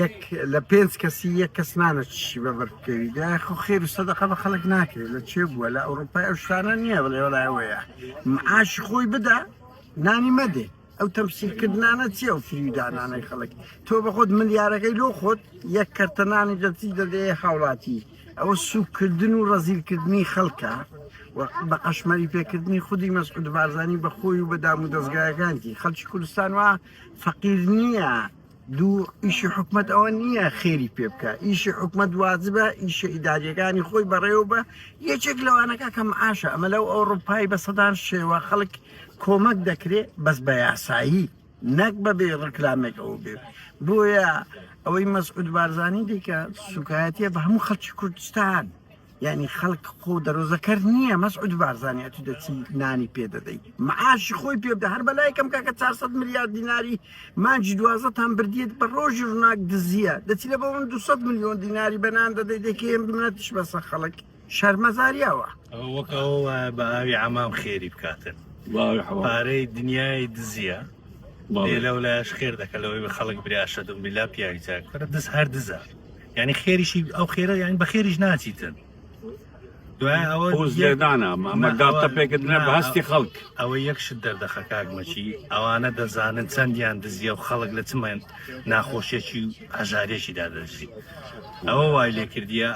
یەک لە پێنج کەسی یەک کەس نانە چشی بە بەر بکەوی دا خۆ خێر و سەدەقە بە خەڵک ناکرێت لە چێ بووە لە ئەوروپای ئەو شتانە نییە بڵێ وەلایەوەیە معاش خۆی بدا نانی مەدێ ئەو تەمسیلکردنانە چیە و فریودانانەی خەڵک تۆ بە خۆت ملیارەکەی لۆ خۆت یەک کەرتەنانی دەچی دەدێ هاوڵاتی ئەوە سوکردن و ڕەزیلکردنی خەڵکە بە قەشمەری پێکردنی خودی مەسعود بارزانانی بەخۆی و بە دام و دەستگایەکانتی خەلکی کوردستان وە فەقیر نیە دوو ئیشی حکومەت ئەوە نیە خێری پێ بکە ئیشی حکومەت واجبە ئیشە ئیداریەکانی خۆی بەڕێوە بە یەکێک لەوانەکە کەم ئاشە ئەمە لەو ئەوڕوپای بە سەدان شێوە خەڵک کۆمەک دەکرێت بەس بە یاسایی نەک بەبێ ڕکلامێک ئەو بێ بۆیە ئەوەی مەسعود بارزانانی دیکە سوکایەتە بە هەموو خەڵکی کوردستان یانی خەلک خۆو دەرۆزەکەر نیە مەسعود بارزانی ئەتو دەچی نانی پێ دەدەی معاشی خۆی پێ بدە هەر بەلای کەم کاکە 400 ملیار دیناری مانجی دوازەتان بردیت بە ڕۆژی ڕناک دزیە دەچی لە بەون 200 ملیۆن دیناری بەنان دەدەی دەکەی منەتش بەسە خەڵک شەرمەزاریاوە وەک ئەوە بە ئاوی عمام خێری بکاتن پارەی دنیای دزیە لەو لایش خێر دەکە لەوەی بە خەڵک براشە دم بلا پیاوی جاکەرە دز هەر دزە یانی خێریشی ئەو خێرە یان بە خێریش ناچیتن دوای ئەوە پوزێدانە مامەداڵتە پێکردنە بە هەستی خەڵک ئەوە یەکشت دەردەخە کاکمەچی ئەوانە دەزانن چەندیان دزیە و خەڵک لە چمێن ناخۆشیێکی و هەژارێکی دادەژی ئەوە وای لێ کردیە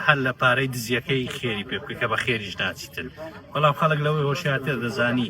هەر لە پارەی دزیەکەی خێری پێ بکە بە خێریش ناچیتن بەڵام خەڵک لەوەی هۆشیاتێ دەزانی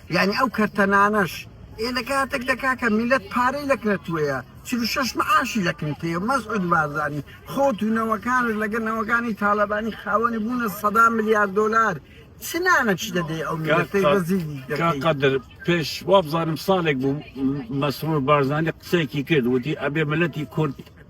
یانی ئەو کەرتە نانەش ئێ لە کاتەک دە کاکە میلەت پارەی لە کرەتوەیە چل و شەش معاشی لە کنتەیە مەسعود بارزانی خۆت و نەوەکانت لەگە نەوەکانی تالەبانی خاوەنی بوونە سەدان ملیار دۆلار چ نانەکی دەدەی ئەو میلەتەی کاکە ڕەزیلی دەکەی کاک قادر پێش وابزانم ساڵێک بوو مەسرور بارزانی قسەیەکی کرد وتی ئەبێ ملەتی کورد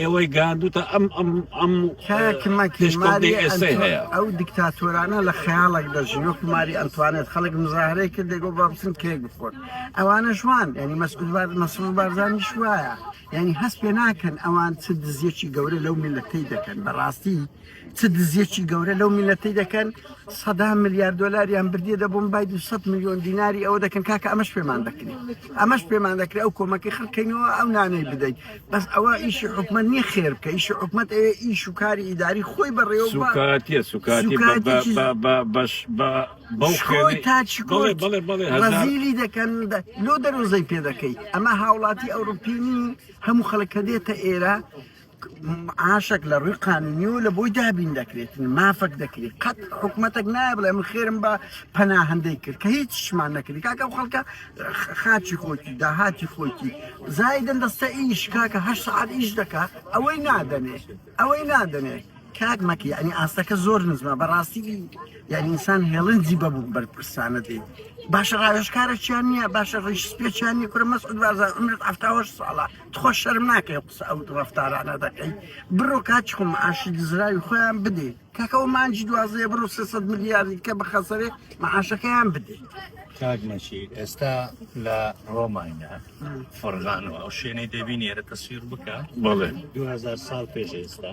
ئێوەی گاندوتە ئەم ئەم ئەم کاک مەکی دژکۆڵی ماری ئێسەی ئەنتۆ- هەیە ئەو دیکتاتۆرانە لە خەیاڵێک دەژین وەکو ماری ئەنتوانێت خەڵک مزاهرەی کرد دەگۆ بە بچن کێک بخۆن ئەوانە شوان یعنی مەسعود بار مەسرور بارزانی شوایە یعنی هەست پێ ناکەن ئەوان چ دزیەکی گەورە لەو میلەتەی دەکەن بەڕاستی چ دزیەکی گەورە لەو میلەتی دەکەن سەدا ملیار دلاریان بردیە دەبووم بای 200 میلیۆن دیناری ئەوە دەکەن کاکە ئەمەش پێمان دەکرێت ئەمەش پێمان دەکرێت ئەو کۆمەکی خەکەینەوە ئەو نانەی بدەیت بەس ئەوە ئیشی حکومە نیە خێر بکە ئیشی حکومت ئەوێ ئیش و کاری ئیداری خۆی بەڕێوە سوکاتە سوکاتی باش بەڵێ تاچیلی دەکەن لۆ دەرۆزەی پێ دەکەیت ئەمە هاوڵاتی ئەوروپینی هەموو خەڵکە دێتە ئێرە معاشەک لە ڕووی قانونی و لە بۆی دابین دەکرێت مافەک دەکرێت قەت حکوومەتێک نایە بڵێ من خێرم بە پەناهندەی کرد کە هیچ شمان نەکردی کاکە خەڵکە خاچی خۆکی داهاتی خۆکی زایدن دەستە ئیش کاکە هەر سعات ئیش دەکات ئەوەی نادەنێ ئەوەی نادەنێ کاک مەکی ینی ئاستەکە زۆر نزمە بەڕاستی یعنی ئینسان هێڵنجی بەبوو بەرپرسانە دێ باشە ڕاوێشکارە چیان نییە باشە ڕیش پێچیان نیە کورە مەسعود بازار عمرت هەفتاهەشت ساڵە تخوا شەرم ناکەی ئەو قسە ئەو ڕەفتارانە دەکەی بڕۆ کاچخۆ معاشی دزراوی خۆیان بدێ کاکە ئەو مانجی دوازەیە بڕۆ 300 ملیاردی کە بخەسەرێ معاشەکەیان بدێ کاک نەشیر ئێستا لە ڕۆمانیا فڕغانەوە ئەو شوێنەی دەبینی ئێرە تەسویر بکە بەڵێ 2000 ساڵ پێش ئێستا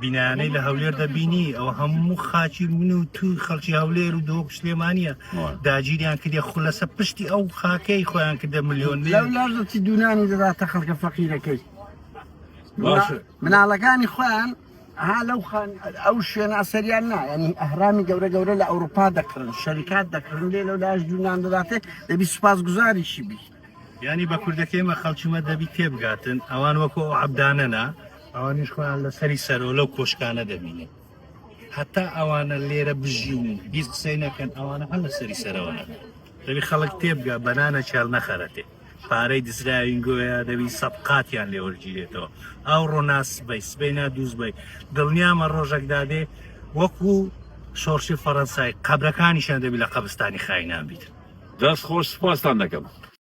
بینایانەی لە هەولێر دەبینی ئەوە هەموو خاچی من و تو خەڵکی هەولێر و دۆک سلێمانە داگیریان کردی خو لەسە پشتی ئەو خاکەی خۆیان کردە ملیۆن لەڵاژەتی دوونانی دەداتە خەڵکە فەقیرەکەی مناڵەکانی خۆیان ها لەو خان ئەو شوێنە ئەسەریان نا ینی ئەهرامی گەورە گەورە لە ئەوروپا دەکردن شەریکات دەکردن لێ لەو لاش دوونان دەداتێ دەبی سوپاس گوزاریشی بیت یانی بە کوردەکەی مە خەڵکی مە دەبی تێبگاتن ئەوان وەکو ئەو عبدانەنا ئەوانیش خۆیان لە سەری سەرۆ لەو کۆشکانە دەبینێت هەتا ئەوانە لێرە بژین و هیچ قسەی نەکەن ئەوانە هەر لە سەری سەرەوەە دەبی خەڵک تێبگا بەنانە چێڵ نەخەرەتێ پارەی دزراوین گوۆیا دەبی سەبقاتیان لێ وەرگیرێتەوە ئەو ڕۆناس بەی سبەی نادووز بی دڵنیامە ڕۆژەکدادێ وەکو شۆڕشی فەڕەنسای قەبرەکانیشان دەبی لە قەبستانی خاینان بیت دەست خۆش سپاستان دەکەم